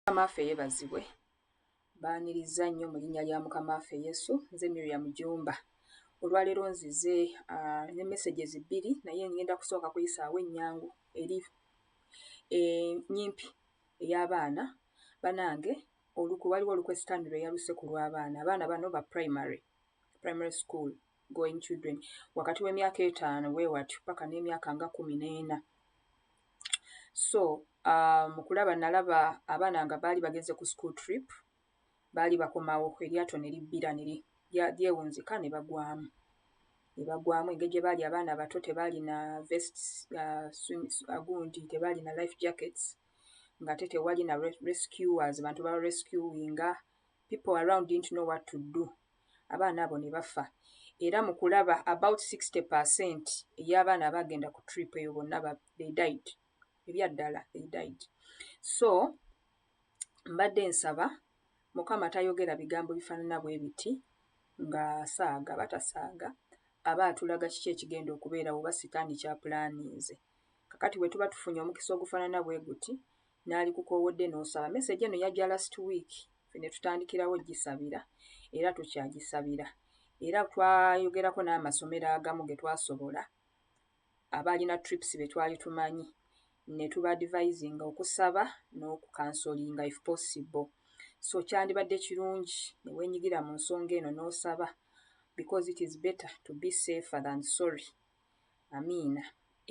mukamaffe yebazibwe baniriza nnyo mu linnya lya mukamaffe yesu nze miriam jumba olwaleero nzize uh, ne messages bbiri naye ngenda kusooka kuyisaawo ennyangu eri enyimpi eh, e, ey'abaana banange oluku waliwo olukwesitani lwe yaluse ku lw'abaana abaana bano ba primary primary school going children wakati w'emyaka etaano wewatyo paka n'emyaka nga kumi n'ena so uh, mu kulaba nalaba abaana nga baali bagenze ku school trip baali bakomawo eryato ne libbira ne lyewunzika ne bagwamu ne bagwamu engeri gye baali abaana abato tebaalina vests uh, uh, gundi tebaalina life jackets ng'ate tewali na rescuers bantu babarescuinga people around didn't know what to do abaana abo ne bafa era mu kulaba about 60 percent ey'abaana abaagenda ku trip eyo bonna they died ebyaddala they died so mbadde nsaba mukama tayogera bigambo bifaanana bwe biti ng'asaaga batasaaga aba atulaga kiki ekigenda okubeerawo oba sitaani kyapulaaninze kakati bwe tuba tufunye omukisa ogufaanana bwe guti nalikukoowodde n'osaba. Message eno yajja last week ffe ne tutandikirawo gisabira era tukyagisabira era twayogerako n'amasomero agamu ge twasobola abaalina trips be twali tumanyi ne tuba advisinga okusaba n'okukansolinga if possible so kyandibadde kirungi ne weenyigira mu nsonga eno n'osaba because it is better to be safer than sorry Amiina.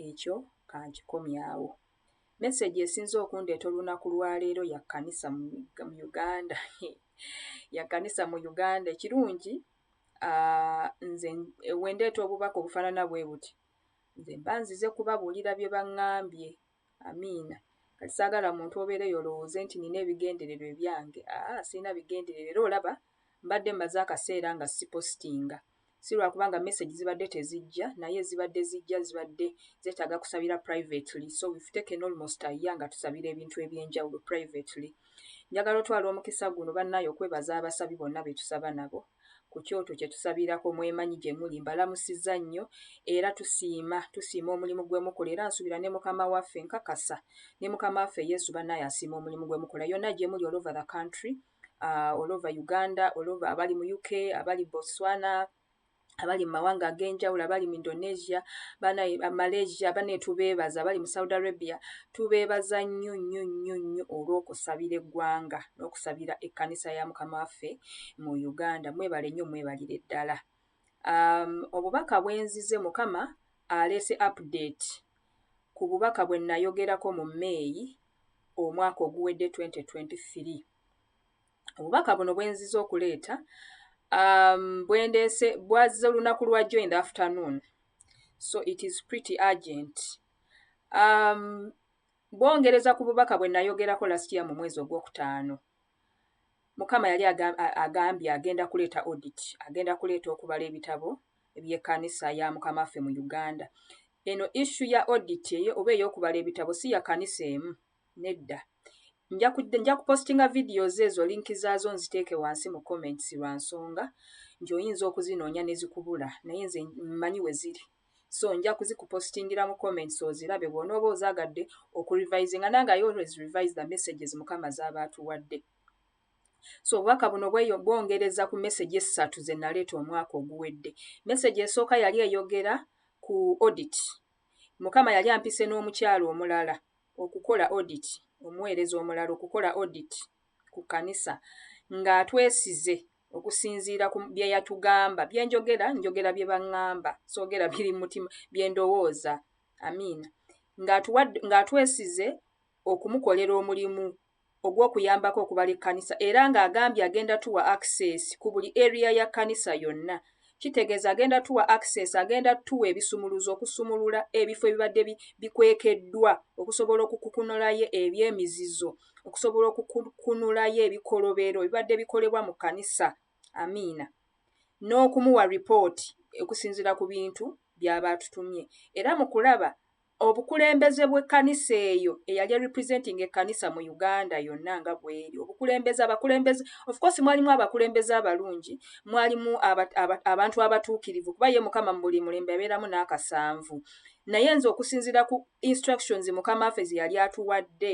Ekyo ka nkikomye awo. Mesegi esinze okundeeta olunaku lwa leero ya kkanisa mu Uganda. He, ya kkanisa mu Uganda. Ekirungi, ah, nze bwe ndeeta obubaka obufaanana bwe buti, nze mba nzize kubabuulira bye baŋŋambye, Amiina. Kati saagala muntu obeereyo olowooze nti nnina ebigendererwa ebyange. Aa, ah, sirina bigendererwa era olaba mbadde mmaze akaseera nga sipositinga. Si lwa kubanga message zibadde tezijja, naye zibadde zijja zibadde zeetaaga kusabira privately. So we've taken almost a year nga tusabira ebintu eby'enjawulo privately. Njagala otwala omukisa guno bannaaye okwebaza abasabi bonna be tusaba nabo. ku kyoto kye tusabirako mwemanyi gye muli mbalamusizza nnyo era tusiima tusiima omulimu gwe mukola era nsuubira ne mukama waffe nkakasa ne mukama waffe yesu bannaye asiima omulimu gwe mukola yonna gye muli all over the country uh, all over uganda all over abali mu uk abali botswana abali mu mawanga ag'enjawulo abali mu indonesia banaye malaysia banaye tubeebaza abali mu saudi arabia tubeebaza nnyo nnyo nnyo nnyo olw'okusabira eggwanga n'okusabira ekkanisa ya mukama waffe mu uganda mwebale nnyo mwebalire ddala um, obubaka bwenzize mukama aleese update ku bubaka bwe nayogerako mu meeyi omwaka oguwedde 2023 obubaka buno bwenziza okuleeta um, bwendeese bwaze olunaku lwajjo in the afternoon so it is pretty urgent um, bwongereza ku bubaka bwe nayogerako last year mu mwezi ogwokutaano Mukama yali agambye agenda kuleeta audit, agenda kuleeta okubala ebitabo eby'ekkanisa ya Mukama waffe mu Uganda. Eno issu ya audit eyo oba ey'okubala ebitabo si ya kanisa emu, nedda. Nja kupostinga videos ezo linki zaazo nziteeke wansi mu comments lwa nsonga nti oyinza okuzinoonya ne zikubula naye nze mmanyi we ziri. so nja kuzikupositingira mu comments ozirabe bw'onooba ozaagadde okurevisinga nange i always revise the messages mukama z'aba atuwadde so obubaka buno bwongereza ku message essatu ze naleeta omwaka oguwedde message esooka yali eyogera ku audit mukama yali ampise n'omukyalo omulala okukola audit omuweereza omulala okukola audit ku kanisa ng'atwesize okusinziira ku bye yatugamba bye njogera njogera bye baŋŋamba soogera biri mu mutima bye ndowooza amiina ng'atwesize okumukolera omulimu ogw'okuyambako okubala ekkanisa era ng'agambye agenda tuwa access ku buli eriya ya kkanisa yonna kitegeeza agenda tuwa access agenda tuwa ebisumuluzo okusumulula ebifo ebibadde bikwekeddwa okusobola okukukunulayo eby'emizizo okusobola okukunulayo ebikolobero ebibadde bikolebwa mu kkanisa amiina n'okumuwa ripooti okusinziira ku bintu by'aba atutumye era mu kulaba obukulembeze bw'ekkanisa eyo eyali erepresenting ekkanisa mu uganda yonna nga bweri obukulembeze abakulembeze ofcourse mwalimu abakulembeze abalungi mwalimu abantu abatuukirivu kuba ye mukama mu buli mulembe abeeramu n'akasanvu naye nze okusinziira ku instructions mukama ffe ze yali atuwadde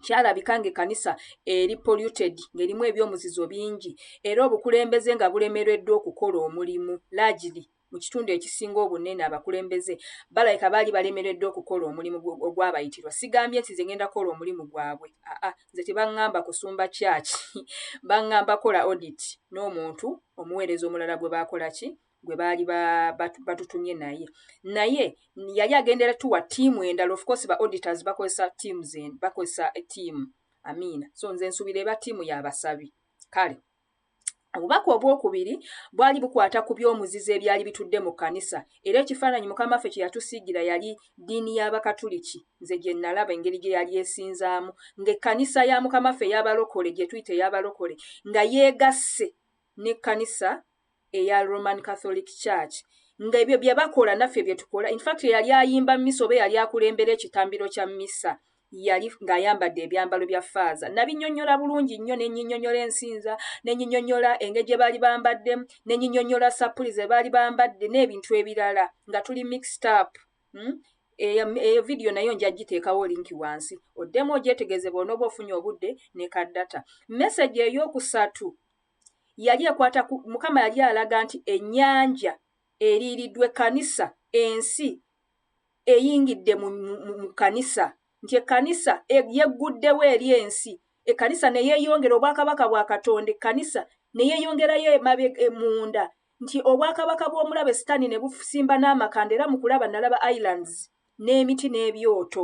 kyalabika ng'ekkanisa eri polluted ng'erimu ebyomuzizo bingi era obukulembeze nga bulemereddwa okukola omulimu largely mu kitundu ekisinga obunene abakulembeze balabika baali balemereddwa okukola omulimu ogwabayitirwa sigambye nti nze ngenda kukola omulimu gwabwe aa nze tebaŋŋamba kusumba kyaki baŋŋamba kola audit n'omuntu omuweereza omulala gwe baakola ki gwe baali batutumye naye naye yali agendera tuwa tiimu endala ofcourse ba auditors bakozesa tiimu zen bakozesa tiimu amiina so nze nsubira eba tiimu yabasabi kale obubaka obwokubiri bwali bukwata ku by'omuzizo ebyali bitudde mu kkanisa era ekifaananyi mukama ffe kye yatusiigira yali ddiini y'abakatuliki nze gye nalaba engeri gye yali esinzaamu ng'ekkanisa ya mukama ffe eyabalokole gye tuyita eyabalokole nga yeegasse n'ekkanisa eya Roman Catholic Church nga ebyo bye bakola naffe bye tukola in fact yali ayimba misa oba yali akulembera ekitambiro kya misa yali ng'ayambadde ebyambalo bya faaza nabinyonyola bulungi nnyo ne nyinyonyola ensinza ne nyinyonyola engeri gye baali bambaddemu ne nyinyonyola sappuli ze baali bambadde n'ebintu ebirala nga tuli mixed up hmm? eyo e, vidiyo nayo nja giteekawo linki wansi oddemu ogyetegeeze bwona oba ofunye obudde ne kaddata mesagi ey'okusatu yali ekwata ku mukama yali alaga nti ennyanja eriiridwa ekkanisa ensi eyingidde mu kkanisa nti ekkanisa e, yegguddewo eri ensi ekkanisa ne yeeyongera obwakabaka bwa katonda ekkanisa ne yeeyongerayo emabe e, munda nti obwakabaka bw'omulabe sitaani ne busimba n'amakanda era mu kulaba nalaba islands n'emiti n'ebyoto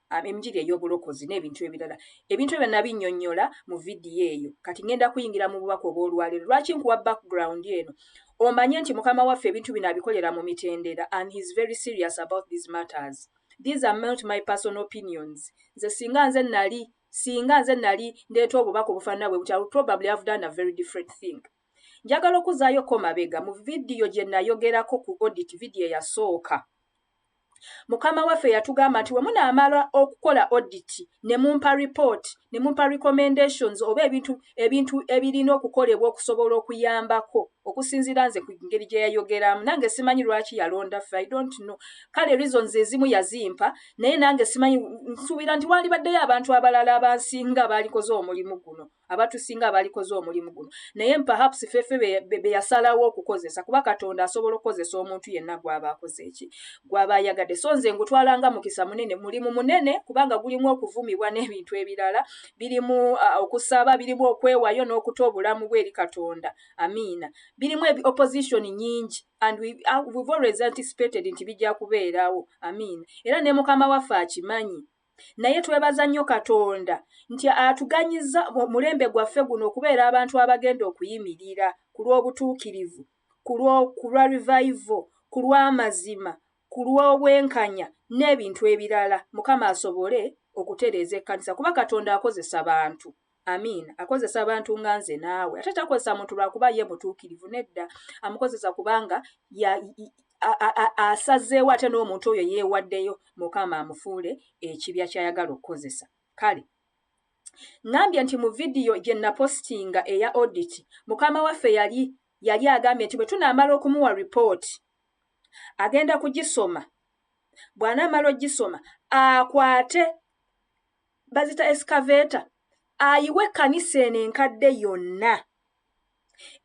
um, enjiri ey'obulokozi n'ebintu ebirala ebintu ebyo nabinnyonnyola mu vidiyo eyo kati ngenda kuyingira mu bubaka obw'olwaleero lwaki nkuwa background eno omanye nti mukama waffe ebintu bino abikolera mu mitendera and heis very serious about these matters these are not my personal opinions nze singa nze nali singa nze nali ndeeta obubaka obufaanana bwe butya probably have done a very different thing njagala okuzaayo ko mabega mu vidiyo gye nayogerako ku audit vidiyo eyasooka mukama waffe yatugamba nti we munaamala okukola oditi ne mumpa ripooti ne mumpa recommendations oba ebintu ebintu ebirina okukolebwa okusobola okuyambako okusinziira nze ku ngeri gye yayogeramu nange simanyi lwaki yalonda ffe i don't know kale reasons ezimu yazimpa naye nange simanyi nsuubira nti waalibaddeyo abantu abalala abansinga baalikoze omulimu guno abatusinga abalikoze omulimu guno naye perhaps fefe beyasalawo okukozesa kuba katonda asobola okukozesa omuntu yenna gwaba akoze eki gwaba ayagadde so nze ngutwala nga mukisa munene mulimu munene kubanga gulimu okuvumibwa n'ebintu ebirala birimu uh, okusaba birimu okwewayo n'okuta obulamu bwe eri katonda amiina birimu opposition nyingi and we, uh, we've always anticipated nti bijja kubeerawo amiina era ne mukama waffe akimanyi naye twebaza nnyo katonda nti atuganyizza mulembe gwaffe guno okubeera abantu abagenda okuyimirira ku lw'obutuukirivu ku lwa revival ku lw'amazima ku lw'obwenkanya n'ebintu ebirala mukama asobole okutereeza ekkanisa kuba katonda akozesa bantu Amiina. Akozesa abantu nga nze naawe. Ate takozesa muntu lwa kuba ye mutuukirivu, nedda. Amukozesa kubanga asazeewo ate n'omuntu oyo yeewaddeyo Mukama amufuule ekibya ky'ayagala okukozesa. Kale ŋambye nti mu vidiyo gye napositinga eya oditi, mukama waffe yali yali agambye nti bwe tunaamala okumuwa ripooti agenda kugisoma bw'anaamala ogisoma akwate bazita escavator ayiwe ekkanisa eno enkadde yonna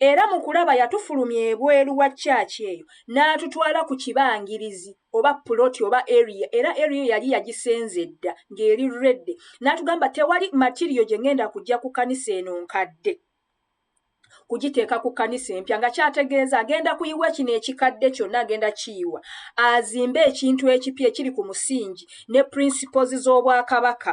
era mu kulaba yatufulumya ebweru wa kyaki eyo n'atutwala ku kibangirizi oba puloti oba area era area eyo yali yagisenza edda ng'eri redde n'atugamba tewali matiriyo gye ngenda kujja ku kkanisa eno nkadde kugiteeka ku kkanisa empya nga kyategeeza agenda kuyiwa kino ekikadde kyonna agenda kiyiwa azimbe ekintu ekipya ekiri ku musingi ne principles z'obwakabaka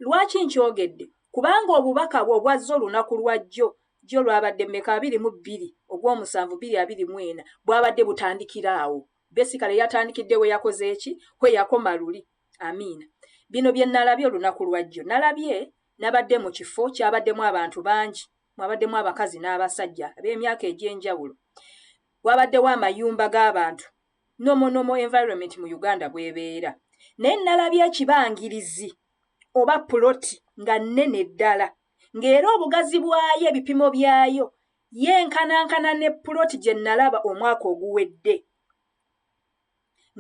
lwaki nkyogedde kubanga obubaka bwe obwazza olunaku lwajjo jjo lwabadde meka abiri mu bbiri ogw'omusanvu biri abiri mu ena bwabadde butandikira awo besikale yatandikidde we yakoze eki kwe yakoma luli amiina bino bye nalabye olunaku lwajjo nalabye nabadde mu kifo kyabaddemu abantu bangi mwabaddemu abakazi n'abasajja ab'emyaka egy'enjawulo wabaddewo amayumba g'abantu nomonomo environment mu uganda bwebeera naye nalabye ekibangirizi oba puloti nga nnene ddala ng'era obugazi bwayo ebipimo byayo yenkanankana ne puloti gye nalaba omwaka oguwedde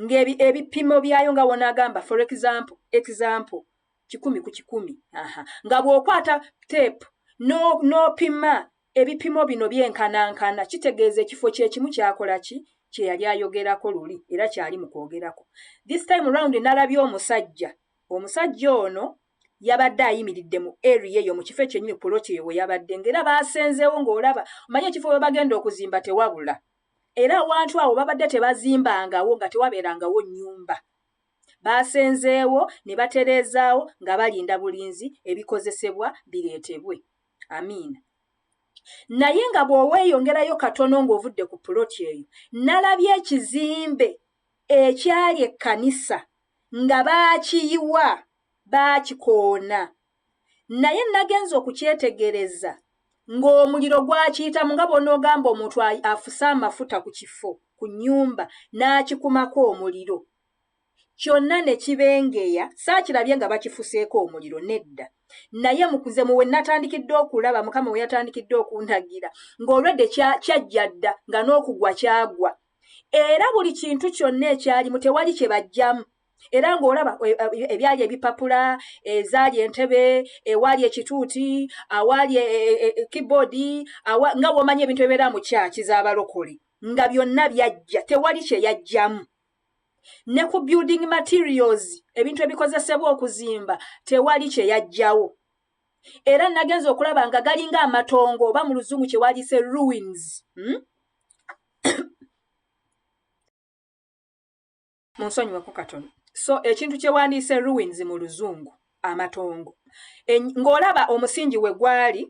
ng'ebipimo ebi, byayo nga wona agamba for example, example kikumi ku kikumi aha nga bw'okwata teepu n'opima no ebipimo bino byenkanankana kitegeeza ekifo kyekimu kyakola ki kye yali ayogerako luli era kyali mu kwogerako this time round nalabye omusajja omusajja ono yabadde ayimiridde mu area eyo mu kifo ekyenyini puloti eyo we yabadde ngaera baasenzeewo ng'olaba omanye ekifo we bagenda okuzimba tewabula era awantu awo babadde tebazimbangawo nga tewabeerangawo nnyumba baasenzeewo ne batereezaawo nga balinda bulinzi ebikozesebwa bireetebwe amiina naye nga bw'oweeyongerayo katono ng'ovudde ku puloti eyo nalabye ekizimbe ekyali ekkanisa nga baakiyiwa baakikoona naye nagenza okukyetegereza ng'omuliro gwakiyitamu nga bwonoogamba omuntu afuse amafuta ku kifo ku nnyumba n'akikumako omuliro kyonna ne kibengeya saakirabye nga bakifuseeko omuliro nedda naye mukuze muwe natandikidde okulaba mukama we yatandikidde okuntagira ng'olwedde kyajja dda nga n'okugwa kyagwa era buli kintu kyonna ekyalimu tewali kye bajjamu era ng'olaba e, e, ebyali ebipapula ezaali entebe ewaali ekituuti awaali e, keyboard nga womanya ebintu ebibeera mu kyaki z'abalokole nga byonna byajja tewali kye yajjamu ne ku building materials ebintu ebikozesebwa okuzimba tewali kye yajjawo era nagenza okulaba nga galinga amatongo oba mu luzungu kye waliise ruins hmm? munsonyiweko katono so ekintu kyewandiise ruins mu luzungu amatongo ng'olaba omusingi we gwali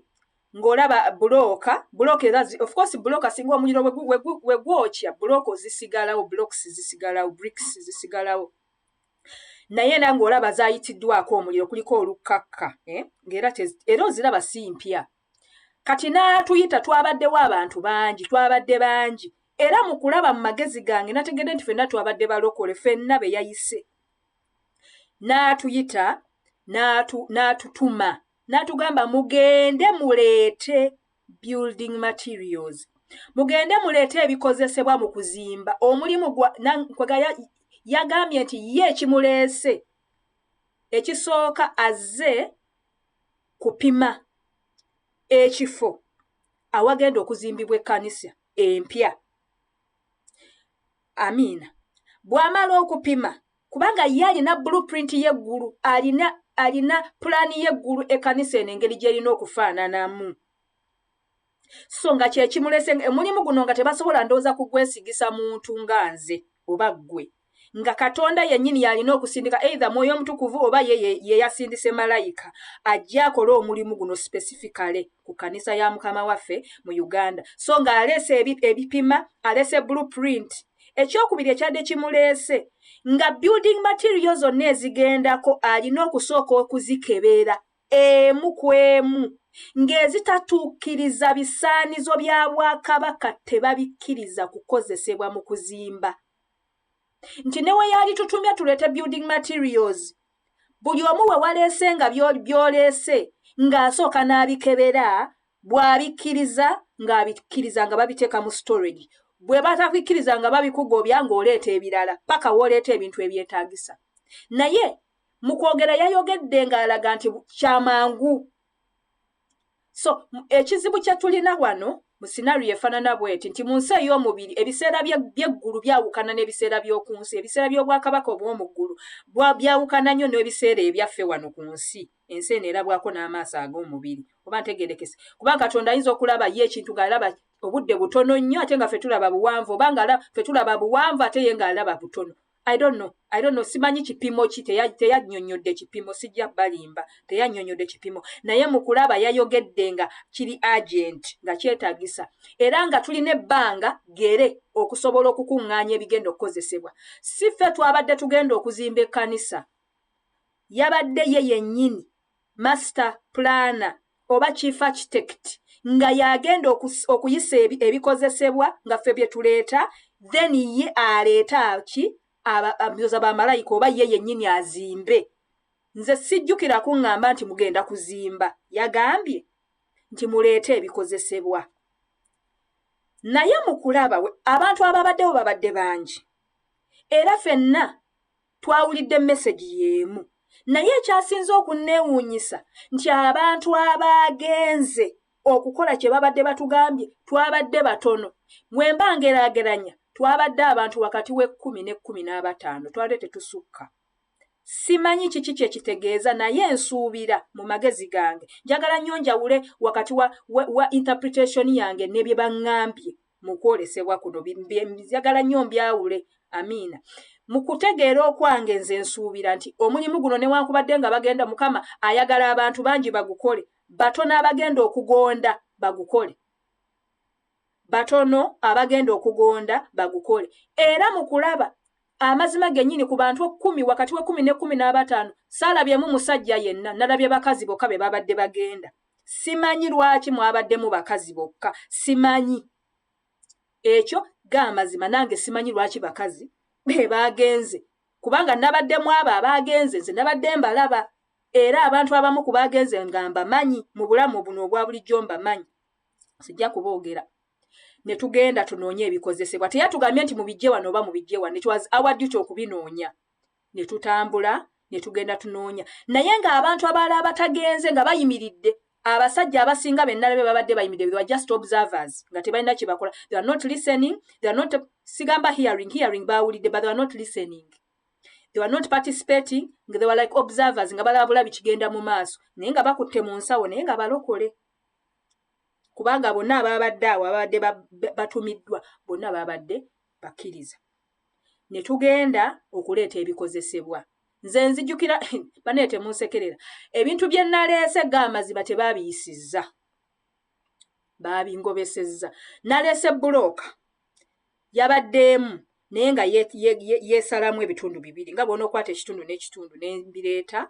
ng'olaba bulooka bulooka era of course bulooka singa omuliro we gwokya bulooka ozisigalawo blocks zisigalawo bricks zisigalawo naye era ng'olaba zayitiddwako omuliro kuliko olukkakka eh? ngaera era oziraba si mpya kati n'atuyita twabaddewo abantu bangi twabadde bangi era mu kulaba mu magezi gange nategedde nti fenna twabadde balokole fenna be yayise n'atuyita n'atutuma n'atugamba mugende muleete building materials mugende muleete ebikozesebwa mu kuzimba omulimu gwaga yagambye nti ye ekimuleese ekisooka azze kupima ekifo awagenda okuzimbibwa ekkanisa empya amiina bw'amala okupima kubanga ye alina blueprint y'eggulu alina alina pulaani y'eggulu ekkanisa eno engeri gy'erina okufaananamu so nga kyekimulese omulimu guno nga tebasobola ndowooza kugwesigisa muntu nga nze oba ggwe nga katonda yennyini yalina okusindika either mwoyo omutukuvu oba ye yeyasindise malayika ajja akole omulimu guno specificale ku kanisa ya mukama waffe mu uganda so nga aleese ebipima aleese blue print ekyokubiri ekyadde kimuleese nga building material zonna ezigendako alina okusooka okuzikebeera emu ku emu ng'ezitatuukiriza bisaanizo bya Bwakabaka tebabikkiriza kukozesebwa mu kuzimba nti ne we yali tutumye tuleete building materials buli omu we waleese nga byoleese ng'asooka n'abikebera bw'abikkiriza ng'abikkiriza nga babiteeka mu storage bwe batabikkiriza nga babikugobya ng'oleeta ebirala paka w'oleeta ebintu ebyetaagisa naye mu kwogera yayogedde ng'alaga nti kyamangu so ekizibu kye tulina wano mu sinario efaanana bweti nti mu nsi ey'omubiri ebiseera byeggulu byawukana n'ebiseera by'oku nsi ebiseera by'obwakabaka obw'omu ggulu byawukana nnyo n'ebiseera ebyaffe wano ku nsi ensi eno erabwako n'amaaso ag'omubiri oba ntegerekese kuba katonda ayinza okulaba ye ekintu ng'alaba obudde butono nnyo ate nga fe tulaba buwanvu oba nga fe tulaba buwanvu ate ye ng'alaba butono I don't know. I don't know. Simanyi kipimo ki teyanyonyodde teya kipimo sijja balimba teyanyonyodde kipimo naye mukulaba yayogedde nga kiri agent nga kyetagisa era nga tulina ebbanga gere okusobola okukuŋŋaanya ebigenda okukozesebwa si ffe twabadde tugenda okuzimba ekkanisa yabadde ye yennyini master planner oba chief architect nga y'agenda okuyisa ebikozesebwa nga ffe bye tuleeta then ye aleeta ki abyoza ba malayika oba ye yennyini azimbe nze sijjukira kuŋŋamba nti mugenda kuzimba yagambye nti muleete ebikozesebwa naye mu kulaba abantu ababaddewo babadde bangi era fenna twawulidde mesegi y'emu naye ekyasinze okunneewuunyisa nti abantu abaagenze okukola kye babadde batugambye twabadde batono bwe mba ngeraageranya twabadde abantu wakati w'ekkumi n'ekkumi n'abataano twabadde tetusukka simanyi kiki kye kitegeeza naye nsuubira mu magezi gange njagala nnyo njawule wakati wa, wa, wa interpretation yange ne bye baŋŋambye mu kwolesebwa kuno njagala nnyo mbyawule amiina mu kutegeera okwange nze nsuubira nti omulimu guno newankubadde nga bagenda mukama ayagala abantu bangi bagukole batono abagenda okugonda bagukole batono abagenda okugonda bagukole era mu kulaba amazima gennyini ku bantu ekkumi wakati w'ekkumi n'ekkumi n'abataano saalabyemu musajja yenna nalabye bakazi bokka be babadde bagenda simanyi lwaki mwabaddemu bakazi bokka simanyi ekyo gaamazima nange simanyi lwaki bakazi bebaagenze kubanga nabaddemu abo abaagenze nze nabadde mbalaba era abantu abamu ku baagenze nga mbamanyi mu bulamu buno obwa bulijjo mbamanyi sijja kuboogera ne tugenda tunoonye ebikozesebwa teyatugambye nti mubijje wano oba mubijje wano it was our duty okubinoonya ne tutambula ne tugenda tunoonya naye ng'abantu abaala abatagenze nga bayimiridde abasajja abasinga bennala be babadde bayimiridde they were just observers nga tebalina kye bakola they are not listening they are not sigamba hearing hearing baawulidde but they are not listening they were not participating nga they were like observers nga balabula bikigenda mu maaso naye nga bakutte mu nsawo naye nga balokole kubanga bonna ababadde awo ababadde batumiddwa bonna babadde bakkiriza ne tugenda okuleeta ebikozesebwa nze nzijukira banaye temunsekerera ebintu bye naleese ga amaziba tebaabiyisizza baabingobesezza naleese bulooka yabaddeemu naye nga yeesalamu ebitundu bibiri nga bwona okwata ekitundu n'ekitundu nembireeta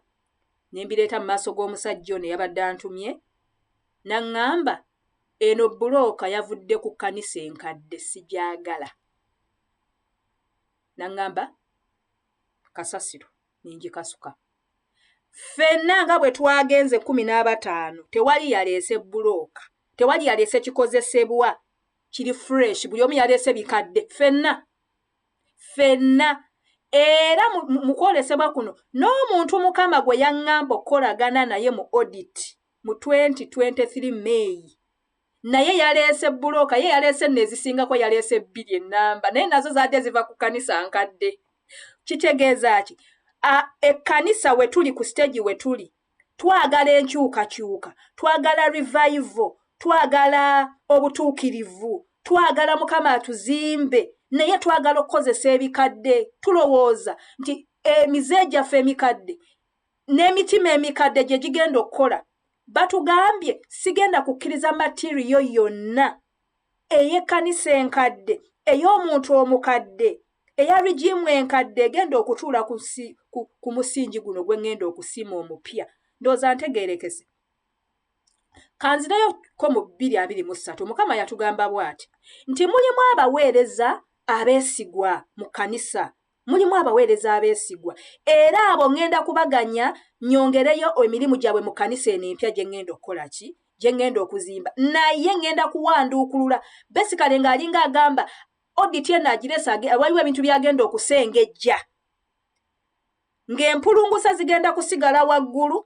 nembireeta mu maaso g'omusajja ono eyabadde antumye naŋŋamba eno bulooka yavudde ku kkanisa enkadde sigyagala naŋŋamba kasasiro ninjikasuka ffenna nga bwe twagenze kkumi n'abataano tewali yaleese bbulooka tewali yaleese kikozesebwa kiri fresh buli omu yaleese bikadde ffenna ffenna era mu kwolesebwa kuno n'omuntu mukama gwe yaŋŋamba okukolagana naye mu odit mu 2023 meeyi naye yaleese bulooka ye yaleese nno ezisingako yaleese bbiri ennamba naye nazo zaadde ziva ku kanisa nkadde kitegeeza ki ekkanisa we tuli ku siteegi we tuli twagala enkyukakyuka twagala revaivo twagala obutuukirivu twagala mukama atuzimbe naye twagala okukozesa ebikadde tulowooza nti emize gyaffe emikadde n'emitima emikadde gye gigenda okukola batugambye sigenda kukkiriza matiriyo yonna ey'ekkanisa enkadde ey'omuntu omukadde eya rigimu enkadde egenda okutuula ku musingi guno gwe ŋŋenda okusiima omupya ndooza ntegeerekese kanzireyo ko mu bbiri abiri mu ssatu mukama yatugamba bw'ati nti mulimu abaweereza abeesigwa mu kkanisa mulimu abaweereza abeesigwa era abo ŋŋenda kubaganya nyongereyo emirimu gyabwe mu kanisa eno empya gye ŋŋenda okukola ki gye ŋŋenda okuzimba naye ŋŋenda kuwanduukulula besikale ng'alinga agamba oditi eno agiresa waliwo ebintu byagenda okusengejja ng'empulungusa zigenda kusigala waggulu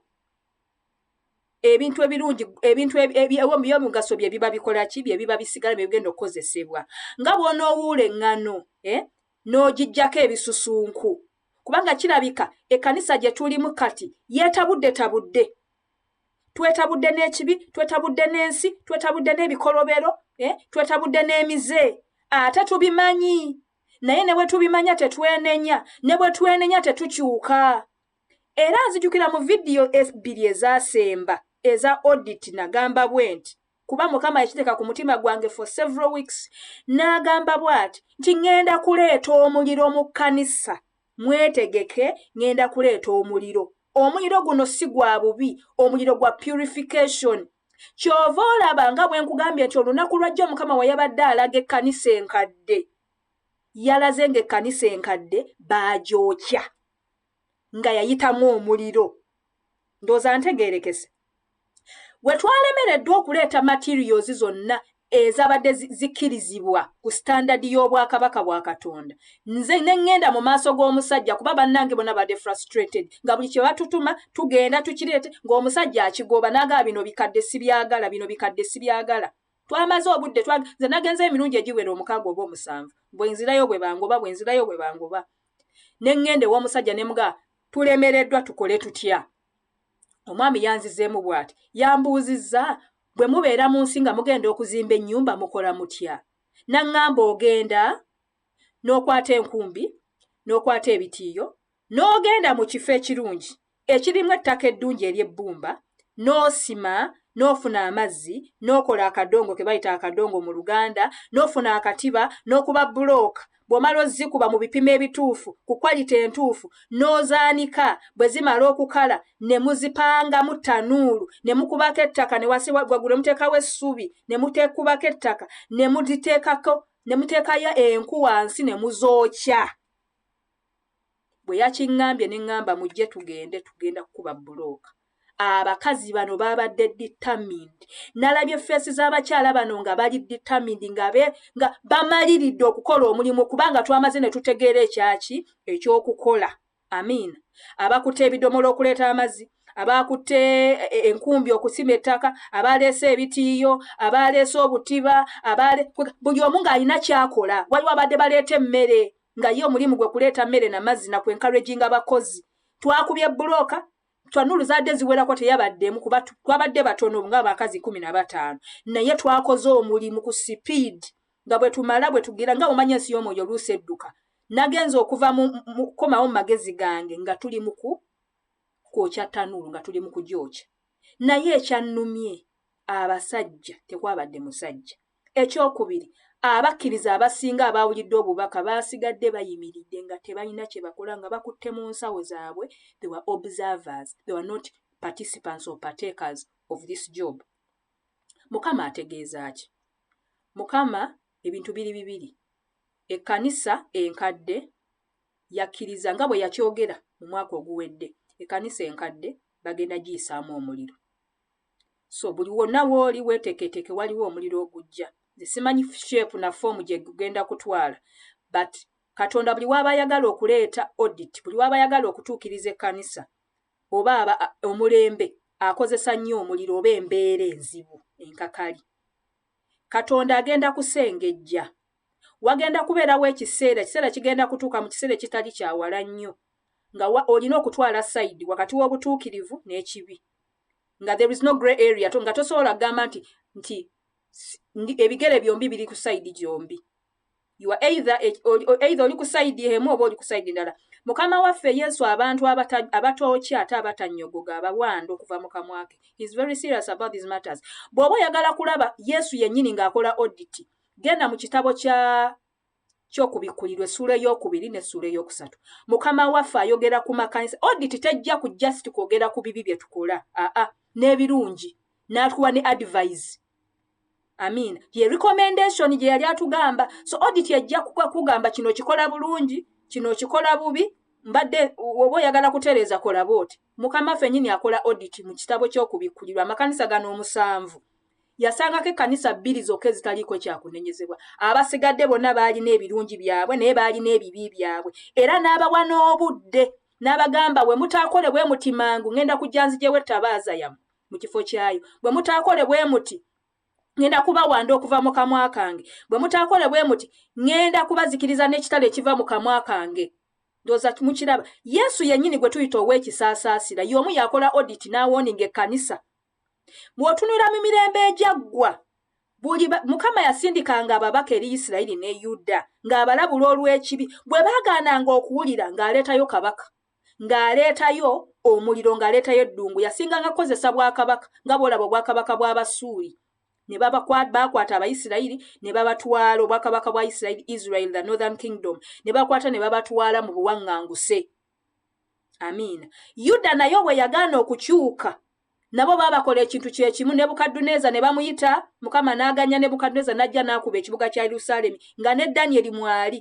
ebintu ebirungi ebintu ebyomugaso bye biba bikola ki bye biba bisigala bye bigenda okukozesebwa nga bw'onoowuula eŋŋano eh? n'ogiggyako ebisusunku kubanga kirabika ekkanisa gye tulimu kati yeetabuddetabudde twetabudde n'ekibi twetabudde n'ensi twetabudde n'ebikolobero eh, twetabudde n'emize ate tubimanyi naye ne bwe tubimanya tetwenenya ne bwe twenenya tetukyuka era nzijukira mu vidiyo ebbiri ezasemba eza odit nagamba bwe nti kuba mukama yakiteeka ku mutima gwange for several weeks n'agamba bw'ati nti ŋŋenda kuleeta omuliro mu kkanisa mwetegeke ŋŋenda kuleeta omuliro omuliro guno si gwa bubi omuliro gwa purification ky'ova olaba nga bwe nkugambye nti olunaku lwajjo mukama we yabadde alaga ekkanisa enkadde yalaze ng'ekkanisa enkadde baagyokya nga yayitamu omuliro ndooza ntegeerekese we twalemereddwa okuleeta materials zonna ezabadde zikkirizibwa ku sitandadi y'obwakabaka bwa katonda nze ne ŋŋenda mu maaso g'omusajja kuba bannange bona badde frustrated nga buli kye batutuma tugenda tukireete ng'omusajja akigoba naagaa bino bikadde sibyagala bino bikadde sibyagala twamaze obudde nze nagenza emirundi egiwera omukaaga oba omusanvu bwe nzirayo bwe bangoba bwe nzirayo bwe bangoba ne ŋŋenda ew'omusajja ne mugaa tulemereddwa tukole tutya omwami yanzizeemu bw'ati yambuuzizza bwe mubeera mu nsi nga mugenda okuzimba ennyumba mukola mutya naŋŋamba ogenda n'okwata enkumbi n'okwata ebitiiyo n'ogenda mu kifo ekirungi ekirimu ettaka eddungi ery'ebbumba, n'osima, n'ofuna amazzi, n'okola akadongo ke bayita akadongo mu Luganda, n'ofuna akatiba, n'okuba bbulooka. Bw'omala ozikuba mu bipimo ebituufu, ku kwalite entuufu, n'ozaanika. Bwe zimala okukala ne muzipangamu ttanuulu, ne mukubako ettaka ne wansi waggulu ne muteekawo essubi, ne mutekubako ettaka ne muziteekako ne muteekayo enku wansi ne muzookya. bwe yakiŋŋambye ne ŋŋamba mujje tugende tugenda kukuba bbulooka abakazi bano baabadde determined nalabye feesi z'abakyala bano nga bali determined nga be nga bamaliridde okukola omulimu kubanga twamaze ne tutegeera ekyaki ekyokukola amiina abakutte ebidomola okuleeta amazzi abaakutte e, e, enkumbi okusima ettaka abaaleese ebitiiyo abaaleese obutiba abaale buli omu ng'alina kyakola waliwo abadde baleeta emmere nga ye omulimu gwe kuleeta mmere na mazzi na kwenkalwejinga bakozi twakubye bbulooka twanulu zaadde ziwerako teyabaddemu kuba twabadde batono nga abakazi kumi na bataano naye twakoze omulimu ku sipiidi nga bwe tumala bwe tugira nga omanya ensi y'omwoyo oluusi edduka nagenza okuva mukukomawo mu magezi gange nga tuli muku kwokya tanulu nga tuli mu kugyokya naye ekyannumye abasajja tekwabadde musajja Eky'okubiri, abakkiriza abasinga abaawulidde obubaka baasigadde bayimiridde nga tebalina kye bakola nga bakutte mu nsawo zaabwe, they were observers, they were not participants or partakers of this job. Mukama ategeeza ki? Mukama ebintu biri bibiri. Ekkanisa enkadde yakkiriza nga bwe yakyogera mu mwaka oguwedde, ekkanisa enkadde bagenda giyisaamu omuliro. so buli wonna wooli weetekeeteke waliwo omuliro ogujja nze simanyi sheepu na foomu gye gugenda kutwala but katonda buli waaba ayagala okuleeta audit buli waaba ayagala okutuukiriza ekkanisa oba aba omulembe akozesa nnyo omuliro oba embeera enzibu enkakali katonda agenda kusengejja wagenda kubeerawo ekiseera ekiseera kigenda kutuuka mu kiseera ekitali kyawala nnyo nga wa olina okutwala side wakati w'obutuukirivu n'ekibi nga there is no grey area to nga tosobola kugamba nti nti ebigere byombi biri ku side gyombi you are either e, either oli ku side emu oba oli ku side ndala mukama waffe yesu abantu abatookya ate abatanyogoga abawanda okuva mu kamwa ke is very serious about these matters bw'oba oyagala kulaba yesu yennyini ng'akola oditi genda mu kitabo kya ky'okubikkulirwa essuula ey'okubiri n'essuula ey'okusatu mukama waffe ayogera ku makanisa odit tejja ku just kwogera ku bibi bye tukola aa n'ebirungi n'atuwa ne advise amin ye recommendation gye yali atugamba so odit ejja kugamba kino kikola bulungi kino kikola bubi mbadde oba oyagala kutereeza kola booti Mukama ffe nyini akola audit mu kitabo ky'okubikkulirwa amakanisa gano omusanvu yasangako ekkanisa bbiri zokka ezitaliiko kyakunenyezebwa abasigadde bonna baalina ebirungi byabwe naye baalina ebibi byabwe era n'abawa n'obudde n'abagamba bwe mutaakole bwe muti mangu ŋŋenda kujja nzijewo ettabaaza yamu mu kifo kyayo bwe mutaakole bwe muti ŋŋenda kubawanda okuva mu kamwa kange bwe mutaakole bwe muti ŋŋenda kubazikiriza n'ekitala ekiva mu kamwa kange ndoza mukiraba yesu yenyini gwe tuyita ow'ekisaasaasira y'omu yakola odit n'awooninga ekkanisa bw'otunula mu mirembe egyaggwa buli mukama yasindikanga ababaka eri isirayiri ne yuda ng'abalabula olw'ekibi bwe baagaananga okuwulira ng'aleetayo kabaka ng'aleetayo omuliro ng'aleetayo eddungu yasinganga kukozesa bwakabaka nga bw'olaba obwakabaka bw'abasuuli ne baakwata abayisirayiri ne babatwala obwakabaka bwa isirayiri israel the northern kingdom ne bakwata ne babatwala mu buwaŋŋanguse amiina yuda naye obwe yagaana okukyuka nabo baabakola ekintu kye kimu nebukadduneeza ne bamuyita mukama n'aganya nebukadduneeza n'ajja n'akuba ekibuga kya yerusaalemi nga ne danyeri mwali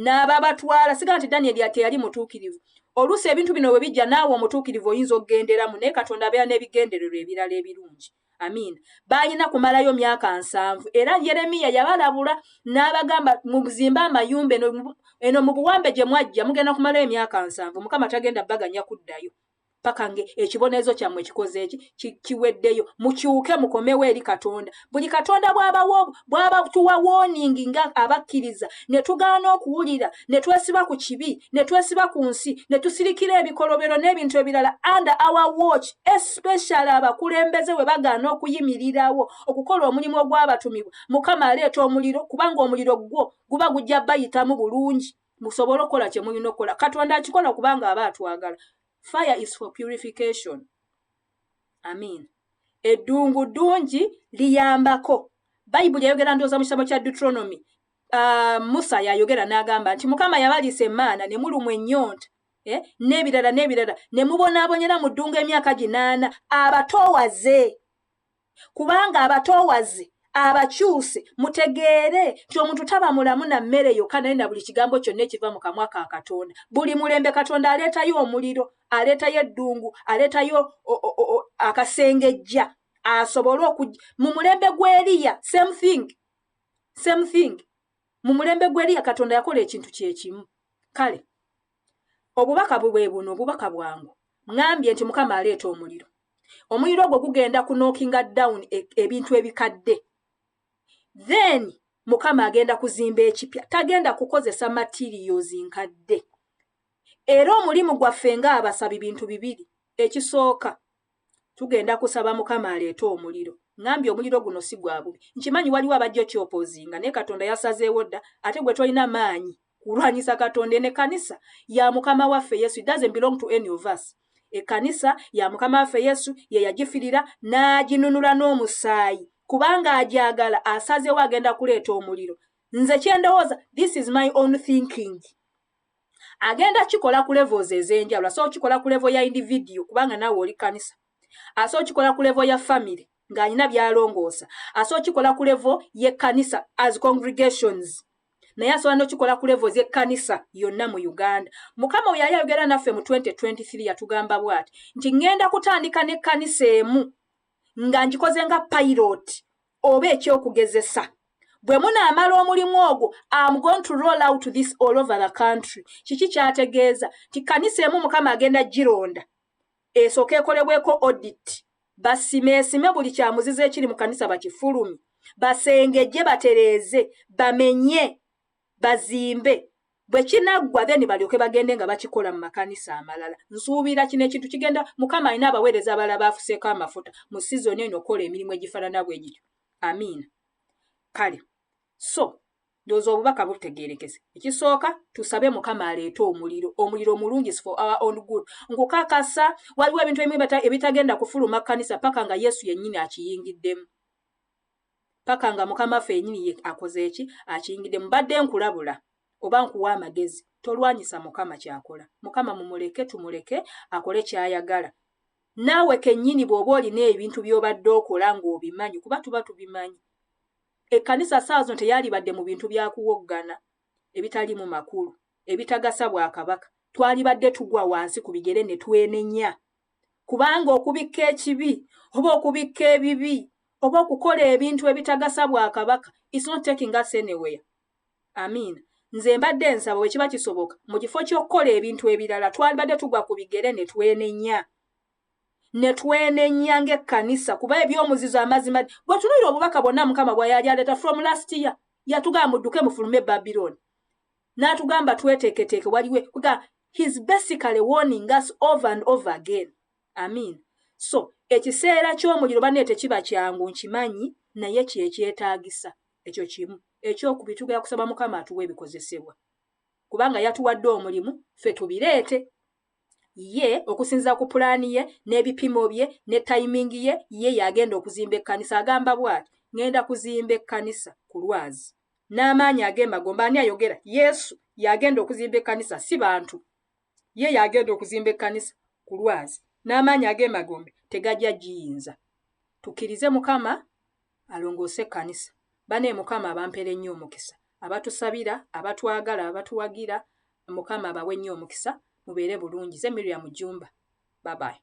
n'ababatwala siga nti danyeri ateyali mutuukirivu oluusi ebintu bino bwe bijja naawe omutuukirivu oyinza okugenderamu naye katonda abeera n'ebigendererwa ebirala ebirungi amiina baalina kumalayo myaka nsanvu era yeremiya yabalabula n'abagamba muzimbe amayumba eno mu buwambe gye mwajja mugenda kumalayo emyaka nsanvu mukama tagenda baganya kuddayo paka nge ekibonerezo kyammwe kikoze eki kiweddeyo mukyuke mukomewo eri katonda buli katonda bwabawo bwaba tuwa woningi nga abakkiriza ne tugaana okuwulira ne twesiba ku kibi ne twesiba ku nsi ne tusirikira ebikolobero n'ebintu ebirala under our watch especially abakulembeze bwe bagaana okuyimirirawo okukola omulimu ogwabatumibwa mukama aleeta omuliro kubanga omuliro gwo guba gujja bayitamu bulungi musobole okukola kye mulina okukola katonda akikola kubanga aba atwagala fire is for purification amin eddungu ddungi liyambako bayibuli yayogera ndooza mu kitabo kya deuteronomy uh, musa yayogera n'agamba nti mukama yabaliisa emaana ne mulumwa ennyonta eh? n'ebirala n'ebirala ne mubonaabonyera mu ddungu emyaka ginaana abatoowaze kubanga abatoowaze abakyuse mutegeere nti omuntu taba mulamu na mmere yokka naye na buli kigambo kyonna ekiva mu kamwa ka katonda buli mulembe katonda aleetayo omuliro aleetayo eddungu aleetayo akasengejja asobole oku mu mulembe gw'eriya same thing same thing mu mulembe gw'eriya katonda yakola ekintu kye kimu kale Obubaka bwe buno, obubaka bwangu. Ŋŋambye nti, Mukama aleeta omuliro. Omuliro ogwo gugenda ku knockinga down e, ebintu ebikadde. Then, Mukama agenda kuzimba ekipya. Tagenda kukozesa materials nkadde. Era omulimu gwaffe ng'abasabi bintu bibiri. Ekisooka, tugenda kusaba mukama aleete omuliro ngambye omuliro guno si gwa bubi nkimanyi waliwo abajja okyopozinga naye katonda yasazeewo dda ate gwe tolina maanyi kulwanyisa katonda ene kanisa ya mukama waffe yesu it doesn't belong to any of us ekkanisa ya mukama waffe yesu ye yagifirira n'aginunula n'omusaayi kubanga agyagala asazeewo agenda kuleeta omuliro nze kyendowooza this is my own thinking agenda kikola ku levels ez'enjawulo asobola okikola ku levo ya individiyo kubanga naawe oli kanisa asobola okikola ku levo ya famiry ng'alina byalongoosa asobola okikola ku levo y'ekkanisa as congregations naye asobola nokikola ku levo z'ekkanisa yonna mu uganda mukama oyo yali ayogera naffe mu 2023 yatugamba bwati nti ŋŋenda kutandika n'ekkanisa emu nga ngikoze nga piloti oba ekyokugezesa bwe munaamala omulimu ogwo am going to roll out this all over the country kiki kyategeeza nti kanisa emu mukama agenda gironda esooka ekolebweko audit basime esime buli kyamuziza ekiri mu kanisa bakifulumi basengejje batereeze bamenye bazimbe bwe kinaggwa then balyoke bagende nga bakikola mu makanisa amalala nsuubira kino ekintu kigenda mukama alina abaweereza abala baafuseeko amafuta mu sizoni eno okukola emirimu egifaanana bwe gityo amiina kale so ndooza obubaka butegeerekese ekisooka tusabe mukama aleete omuliro omuliro omulungi for our own good nkukakasa waliwo ebintu ebimu ebitagenda kufuluma kkanisa paka nga yesu yennyini akiyingiddemu paka nga mukama ffe yenyini ye akoze eki akiyingide mubadde nkulabula oba nkuwa amagezi tolwanyisa mukama kyakola mukama mumuleke tumuleke akole kyayagala naawe kenyini bwoba olina ebintu byobadde okola ngaobimanyi kuba tuba tubimanyi ekkanisa saawa zino teyalibadde mu bintu byakuwoggana ebitaliimu makulu ebitagasa bwakabaka twalibadde tugwa wansi ku bigere ne twenenya kubanga okubikka ekibi oba okubikka ebibi oba okukola ebintu ebitagasa bwa kabaka is not taking us anywhere amiina nze mbadde nsaba bwe kiba kisoboka mu kifo ky'okukola ebintu ebirala twalibadde tugwa ku bigere ne twenenya ne twenenya ng'ekkanisa kuba eby'omuzizo amazima bwe tunulira obubaka bwonna mukama bwa yali aleeta from last year yatugamba mudduke mufulume babiloni n'atugamba tweteeketeeke waliwo kuga his basically warning us over and over again amin so ekiseera ky'omuliro banne tekiba kyangu nkimanyi naye kyekyetaagisa ekyo kimu ekyokubi tugera kusaba mukama atuwa ebikozesebwa kubanga yatuwadde omulimu ffe tubireete ye okusinza ku pulaani ye n'ebipimo bye ne tayimingi ye ye yagenda okuzimba ekkanisa agamba bwati ŋŋenda kuzimba ekkanisa ku lwazi n'amaanyi ag'emagombe ani ayogera yesu yagenda okuzimba ekkanisa si bantu ye yagenda okuzimba ekkanisa ku lwazi n'amaanyi ag'emagombe tegajja giyinza tukkirize mukama alongoose ekkanisa bane mukama abampere nnyo omukisa abatusabira abatwagala abatuwagira mukama abawe nnyo omukisa mubeere bulungi ze miriam jumba babayi